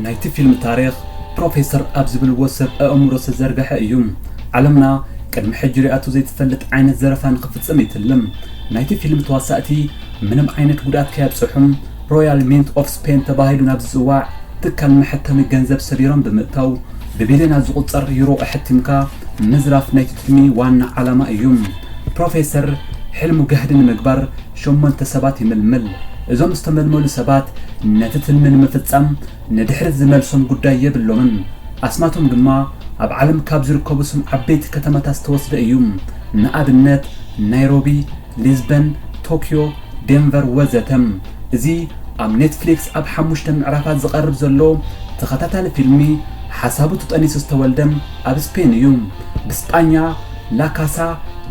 ናይቲ ፊልም ታሪኽ ፕሮፌሰር ኣብ ዝብልዎ ሰብ ኣእምሮ ዝተዘርግሐ እዩ። ዓለምና ቅድሚ ሕጂ ሪኣቶ ዘይትፈልጥ ዓይነት ዘረፋ ንኽፍጽም ይትልም። ናይቲ ፊልም ተዋሳእቲ ምንም ዓይነት ጉድኣት ከየብጽሑም ሮያል ሚንት ኦፍ ስፔን ተባሂሉ ናብ ዝጽዋዕ ትካል መሐተሚ ገንዘብ ሰቢሮም ብምእታው ብቢልዮናት ዝቑጸር ዩሮ ኣሐቲምካ ምዝራፍ ናይቲ ትልሚ ዋና ዓላማ እዩ። ፕሮፌሰር ሕልሙ ጋህዲ ንምግባር ሸሞንተ ሰባት ይምልምል። እዞም ዝተመልመሉ ሰባት ነቲ ትልሚ ንምፍጻም ንድሕሪት ዝመልሶም ጉዳይ የብሎምን። ኣስማቶም ድማ ኣብ ዓለም ካብ ዝርከቡ ስም ዓበይቲ ከተማታት ዝተወስደ እዩ። ንኣብነት ናይሮቢ፣ ሊዝበን፣ ቶክዮ፣ ዴንቨር ወዘተ። እዚ ኣብ ኔትፍሊክስ ኣብ ሓሙሽተ ምዕራፋት ዝቐርብ ዘሎ ተኸታታሊ ፊልሚ፣ ሓሳቡ ተጠኒሱ ዝተወልደ ኣብ ስፔን እዩ። ብስጳኛ ላ ካሳ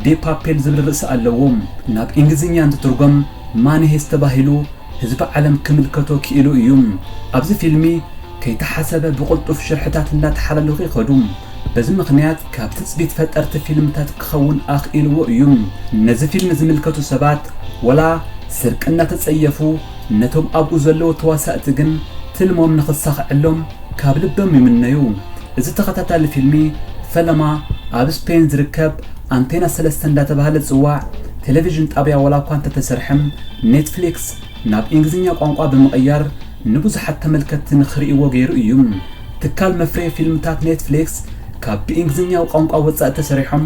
ዴ ፓፔል ዝብል ርእሲ ኣለዎ። ናብ ኢንግሊዝኛ እንትትርጎም ማኒ ሄይስት ተባሂሉ ህዝቢ ዓለም ክምልከቶ ክኢሉ እዩ። ኣብዚ ፊልሚ፣ ከይተሓሰበ ብቕልጡፍ ሽርሕታት እናተሓላለኹ ይኸዱ። በዚ ምኽንያት ካብ ትጽቢት ፈጠርቲ ፊልምታት ክኸውን ኣኽኢልዎ እዩ። ነዚ ፊልም ዝምልከቱ ሰባት ወላ ስርቂ እናተጸየፉ፣ ነቶም ኣብኡ ዘለዉ ተዋሳእቲ ግን ትልሞም ንኽሳኽዐሎም ካብ ልቦም ይምነዩ። እዚ ተኸታታሊ ፊልሚ ፈለማ ኣብ ስፔን ዝርከብ ኣንቴና ሰለስተ እንዳተባህለ ዝጽዋዕ ቴለቪዥን ጣብያ ወላኳ እንተተሰርሐ ኔትፍሊክስ ናብ ኢንግሊዝኛ ቋንቋ ብምቕያር ንብዙሓት ተመልከትቲ ንኽርእይዎ ገይሩ እዩ። ትካል መፍረዪ ፊልምታት ኔትፍሊክስ ካብ ብኢንግሊዝኛ ቋንቋ ወፃኢ ተሰሪሖም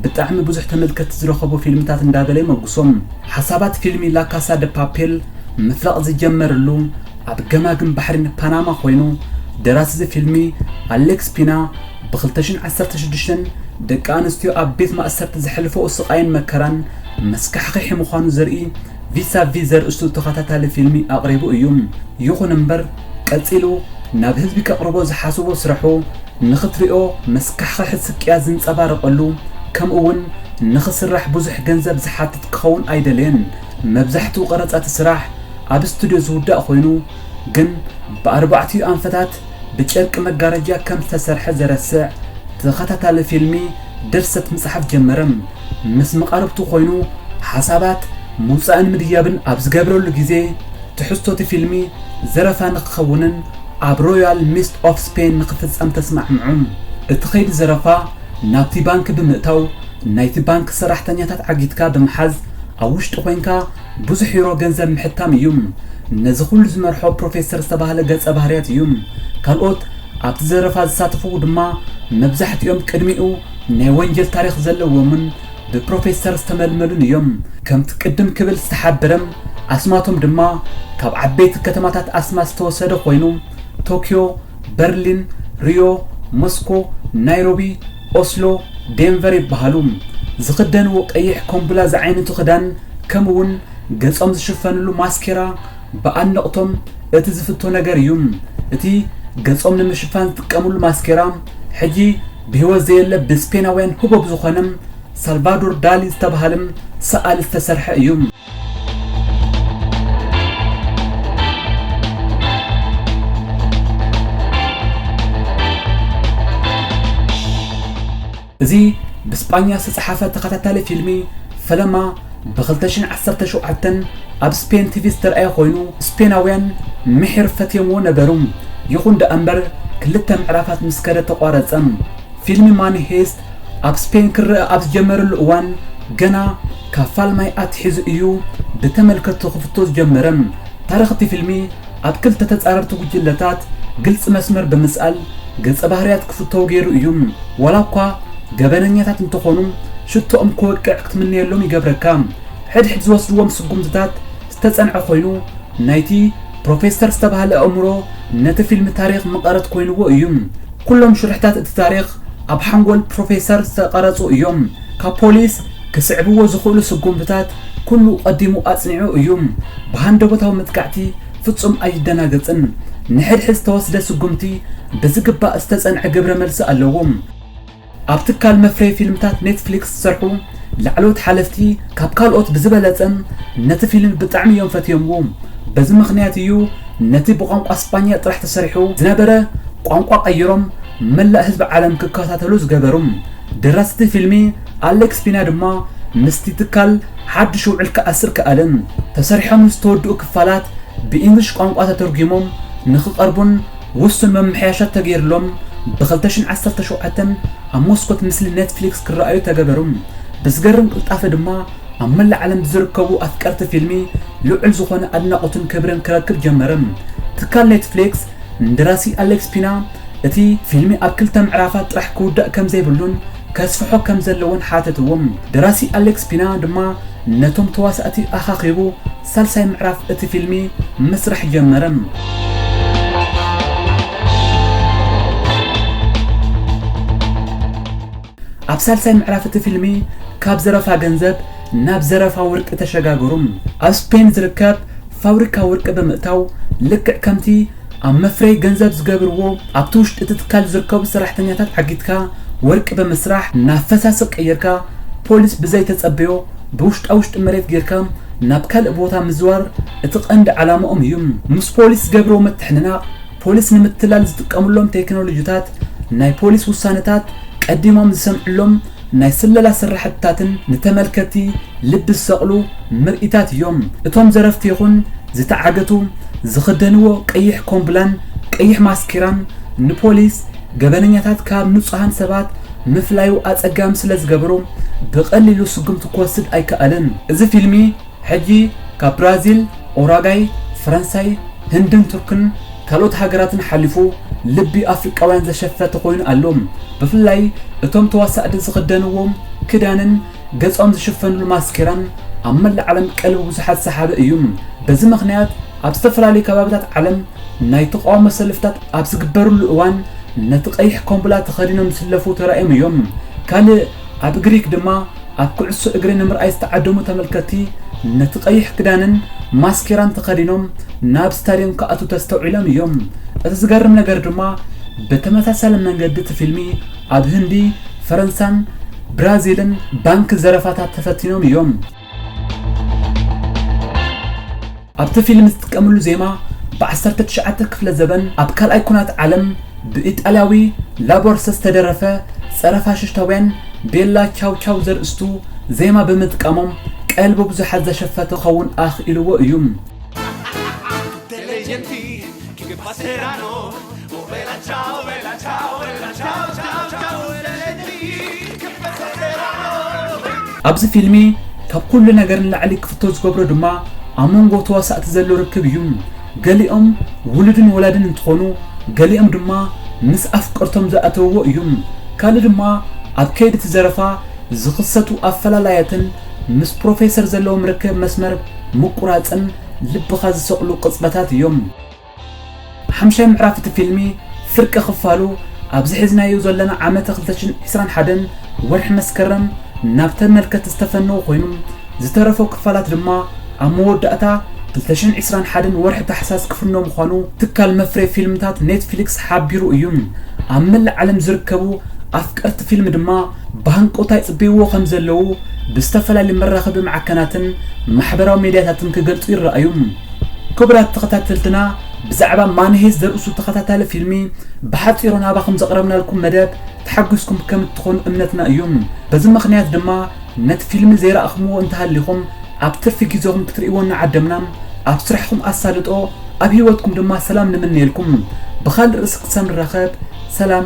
ብጣዕሚ ብዙሕ ተመልከትቲ ዝረኸቡ ፊልምታት እንዳበለ ይመጉሶም። ሓሳባት ፊልሚ ላካሳ ደ ፓፔል ምፍላቕ ዝጀመርሉ ኣብ ገማግም ባሕሪ ንፓናማ ኮይኑ ደራሲ እዚ ፊልሚ ኣሌክስ ፒና ብ ክልተ ሽሕን ዓሰርተ ሽዱሽተን ደቂ ኣንስትዮ ኣብ ቤት ማእሰርቲ ዘሕልፈኦ ስቓይን መከራን መስካሕኽሒ ምዃኑ ዘርኢ ቪሳቪ ዘርእስቱ ተኸታታሊ ፊልሚ ኣቕሪቡ እዩ። ይኹን እምበር ቀጺሉ ናብ ህዝቢ ከቕርቦ ዝሓስቦ ስራሑ ንኽትሪኦ መስካሕኸሒ ስቅያት ዝንጸባረቐሉ ከምኡ'ውን ንኽስራሕ ብዙሕ ገንዘብ ዝሓትት ክኸውን ኣይደለየን። መብዛሕትኡ ቀረጻ'ቲ ስራሕ ኣብ ስቱድዮ ዝውዳእ ኮይኑ ግን ብኣርባዕቲኡ ኣንፈታት ብጨርቂ መጋረጃ ከም ዝተሰርሐ ዘረስዕ ተኸታታሊ ፊልሚ ድርሰት ምጽሓፍ ጀመረ። ምስ መቓርብቱ ኮይኑ ሓሳባት ምውጻእን ምድያብን ኣብ ዝገብረሉ ግዜ፣ ትሕዝቶ እቲ ፊልሚ ዘረፋ ንኽኸውንን ኣብ ሮያል ሚስት ኦፍ ስፔን ንኽፍጸም ተስማዕምዑ። እቲ ከይዲ ዘረፋ ናብቲ ባንኪ ብምእታው ናይቲ ባንኪ ሰራሕተኛታት ዓጊትካ ብምሓዝ ኣብ ውሽጢ ኮይንካ ብዙሕ ዩሮ ገንዘብ ምሕታም እዩ። ነዚ ኹሉ ዝመርሖ ፕሮፌሰር ዝተባህለ ገጸ ባህርያት እዩ። ካልኦት ኣብቲ ዘረፋ ዝሳተፉ ድማ መብዛሕትኦም ቅድሚኡ ናይ ወንጀል ታሪኽ ዘለዎምን ብፕሮፌሰር ዝተመልመሉን እዮም። ከምቲ ቅድም ክብል ዝተሓበረ ኣስማቶም ድማ ካብ ዓበይቲ ከተማታት ኣስማት ዝተወሰደ ኮይኑ ቶክዮ፣ በርሊን፣ ሪዮ፣ ሞስኮ፣ ናይሮቢ፣ ኦስሎ፣ ዴንቨር ይበሃሉ። ዝኽደንዎ ቀይሕ ኮምቡላ ዝዓይነቱ ክዳን ከምኡ እውን ገፆም ዝሽፈንሉ ማስኬራ ብኣድነቕቶም እቲ ዝፍቶ ነገር እዩ። እቲ ገፆም ንምሽፋን ዝጥቀምሉ ማስኬራ ሕጂ ብህይወት ዘየለ ብስፔናውያን ህቦብ ዝኾነ ሳልቫዶር ዳሊ ዝተበሃለ ሰኣሊ ዝተሰርሐ እዩ። እዚ ብስጳኛ ዝተጻሕፈ ተኸታታሊ ፊልሚ ፈለማ ብ2017 ኣብ ስፔን ቲቪ ዝተርኣየ ኮይኑ ስፔናውያን ምሒር ፈትዮምዎ ነበሩ። ይኹን ደኣ እምበር ክልተ ምዕራፋት ምስ ከደ ተቋረጸ። ፊልሚ ማኒ ሄይስት ኣብ ስፔን ክረኣ ኣብ ዝጀመረሉ እዋን ገና ካብ ፋልማይ ኣትሒዙ እዩ ብተመልከትቲ ክፍቶ ዝጀመረ። ታሪኽ እቲ ፊልሚ ኣብ ክልተ ተጻረርቲ ጉጅለታት ግልጺ መስመር ብምስኣል ገጸ ባህርያት ክፍተው ገይሩ እዩ። ዋላ እኳ ገበነኛታት እንተኾኑ ሽቶኦም ክወቅዕ ክትምነየሎም ይገብረካ። ሕድሕድ ዝወስድዎም ስጉምትታት ዝተጸንዐ ኮይኑ ናይቲ ፕሮፌሰር ዝተባህለ ኣእምሮ ነቲ ፊልም ታሪኽ መቐረት ኮይንዎ እዩ። ኩሎም ሽርሕታት እቲ ታሪኽ ኣብ ሓንጎል ፕሮፌሰር ዝተቐረጹ እዮም። ካብ ፖሊስ ክስዕብዎ ዝኽእሉ ስጉምትታት ኩሉ ቀዲሙ ኣጽኒዑ እዩ። ብሃንደበታዊ መጥቃዕቲ ፍጹም ኣይደናገጽን። ንሕድሕድ ዝተወስደ ስጉምቲ ብዝግባእ ዝተጸንዐ ግብረ መልሲ ኣለዎ። ኣብ ትካል መፍረዪ ፊልምታት ኔትፍሊክስ ዝሰርሑ ላዕለዎት ሓለፍቲ ካብ ካልኦት ብዝበለጸ ነቲ ፊልም ብጣዕሚ እዮም ፈትዮምዎ። በዚ ምኽንያት እዩ ነቲ ብቋንቋ ስጳኛ ጥራሕ ተሰሪሑ ዝነበረ ቋንቋ ቀይሮም መላእ ህዝቢ ዓለም ክከታተሎ ዝገበሩ። ደራሲ'ቲ ፊልሚ ኣሌክስ ፒና ድማ ምስቲ ትካል ሓድሽ ውዕል ክኣስር ከኣለ። ተሰሪሖም ዝተወድኡ ክፋላት ብኢንግሊሽ ቋንቋ ተተርጒሞም ንኽቐርቡን ውሱን ምምሕያሻት ተገይርሎም ብ ክልተ ሽሕን ዓሰርተ ሸውዓተ ኣብ መስኮት ምስሊ ኔትፍሊክስ ክረኣዩ ተገበሩ። ብዝገርም ቅልጣፈ ድማ ኣብ መላእ ዓለም ብዝርከቡ ኣፍቀርቲ ፊልሚ ልዑል ዝኾነ ኣድናቖትን ክብርን ክረክብ ጀመረ። ትካል ኔትፍሊክስ ንደራሲ ኣሌክስ ፒና እቲ ፊልሚ ኣብ ክልተ ምዕራፋት ጥራሕ ክውዳእ ከምዘይብሉን ከስፍሖ ከምዘለዎን ሓተትዎ። ደራሲ ኣሌክስ ፒና ድማ ነቶም ተዋሳእቲ ኣኻኺቡ ሳልሳይ ምዕራፍ እቲ ፊልሚ ምስራሕ ጀመረ። ኣብ ሳልሳይ ምዕራፍ እቲ ፊልሚ ካብ ዘረፋ ገንዘብ ናብ ዘረፋ ወርቂ ተሸጋገሩ። ኣብ ስፔን ዝርከብ ፋብሪካ ወርቂ ብምእታው ልክዕ ከምቲ ኣብ መፍረዪ ገንዘብ ዝገብርዎ ኣብቲ ውሽጢ እቲ ትካል ዝርከቡ ሰራሕተኛታት ዓጊትካ ወርቂ ብምስራሕ ናብ ፈሳሲ ቀይርካ ፖሊስ ብዘይተፀበዮ ብውሽጣ ውሽጢ መሬት ገይርካ ናብ ካልእ ቦታ ምዝዋር እቲ ቀንዲ ዓላማኦም እዩ። ምስ ፖሊስ ዝገብርዎ ምትሕንናቕ፣ ፖሊስ ንምትላል ዝጥቀምሎም ቴክኖሎጂታት፣ ናይ ፖሊስ ውሳነታት ቀዲሞም ዝሰምዕሎም ናይ ስለላ ስራሕቲታትን ንተመልከትቲ ልቢ ዝሰቕሉ ምርኢታት እዮም። እቶም ዘረፍቲ ይኹን ዝተዓገቱ ዝኽደንዎ ቀይሕ ኮምብላን ቀይሕ ማስኬራን ንፖሊስ፣ ገበነኛታት ካብ ንጹሃን ሰባት፣ ምፍላዩ ኣጸጋሚ ስለ ዝገበሮ ብቐሊሉ ስጉምቲ ክወስድ ኣይከኣለን። እዚ ፊልሚ ሕጂ ካብ ብራዚል፣ ኡራጋይ፣ ፈረንሳይ፣ ህንድን ቱርክን ካልኦት ሃገራትን ሓሊፉ ልቢ ኣፍሪቃውያን ዘሸፈተ ኮይኑ ኣሎ። ብፍላይ እቶም ተዋሳእቲ ዝኽደንዎ ክዳንን ገጾም ዝሽፈንሉ ማስኬራን ኣብ መላእ ዓለም ቀልቢ ብዙሓት ሰሓቢ እዩ። በዚ ምኽንያት ኣብ ዝተፈላለዩ ከባቢታት ዓለም ናይ ተቓውሞ ሰልፍታት ኣብ ዝግበርሉ እዋን ነቲ ቀይሕ ኮምቡላ ተኸዲኖም ዝስለፉ ተራእዮም እዮም። ካልእ ኣብ ግሪክ ድማ ኣብ ኩዕሶ እግሪ ንምርኣይ ዝተዓደሙ ተመልከትቲ ነቲ ቀይሕ ክዳንን ማስኬራን ተኸዲኖም ናብ ስታድየም ክኣትው ተስተውዒሎም እዮም። እቲ ዝገርም ነገር ድማ ብተመሳሳሊ መንገዲ እቲ ፊልሚ ኣብ ህንዲ፣ ፈረንሳን ብራዚልን ባንኪ ዘረፋታት ተፈቲኖም እዮም። ኣብቲ ፊልም ዝጥቀምሉ ዜማ ብዓሰርተ ትሽዓተ ክፍለ ዘበን ኣብ ካልኣይ ኩናት ዓለም ብኢጣልያዊ ላቦርሰ ዝተደረፈ ጸረ-ፋሽሽታውያን ቤላ ቻው ቻው ዘርእስቱ ዜማ ብምጥቃሞም ቀልቢ ብዙሓት ዘሸፈተ ክኸውን ኣኽኢልዎ እዩ። ኣብዚ ፊልሚ ካብ ኩሉ ነገር ንላዕሊ ክፍቶ ዝገብሮ ድማ ኣብ መንጎ ተዋሳእቲ ዘሎ ርክብ እዩ። ገሊኦም ውሉድን ወላድን እንትኾኑ ገሊኦም ድማ ምስ ኣፍቀርቶም ዝኣተውዎ እዩ። ካልእ ድማ ኣብ ከይዲ እቲ ዘረፋ ዝኽሰቱ ኣፈላላያትን ምስ ፕሮፌሰር ዘለዎም ርክብ መስመር ምቁራፅን ልብኻ ዝሰቕሉ ቅፅበታት እዮም። ሓምሻይ ምዕራፍ እቲ ፊልሚ ፍርቂ ክፋሉ ኣብዚ ሒዝናዮ ዘለና ዓመተ ክልተ ሽሕን ዕስራን ሓደን ወርሒ መስከረም ናብ ተመልከቲ ዝተፈነወ ኮይኑ ዝተረፎ ክፋላት ድማ ኣብ መወዳእታ ክልተ ሽሕን ዕስራን ሓደን ወርሒ ታሕሳስ ክፍኖ ምዃኑ ትካል መፍረይ ፊልምታት ኔትፍሊክስ ሓቢሩ እዩ። ኣብ መላእ ዓለም ዝርከቡ ኣፍቀርቲ ፊልም ድማ ብሃንቀውታ ይጽበይዎ ከምዘለዉ ብዝተፈላለዩ መራኸቢ ማዕከናትን ማሕበራዊ ሜድያታትን ክገልጹ ይረኣዩ። ክቡራት ተኸታተልትና ብዛዕባ ማንሄዝ ዘርእሱ ተኸታታሊ ፊልሚ ብሓፂሮ ናባኹም ዘቕረብናልኩም መደብ ተሓጒስኩም ከም እትኾኑ እምነትና እዩ በዚ ምኽንያት ድማ ነቲ ፊልሚ ዘይረኣኹምዎ እንተሃሊኹም ኣብ ትርፊ ግዜኹም ክትርእይዎ እናዓደምና ኣብ ስራሕኹም ኣሳልጦ ኣብ ህይወትኩም ድማ ሰላም ንምነየልኩም ብኻልእ ርእሲ ክሳብ ንራኸብ ሰላም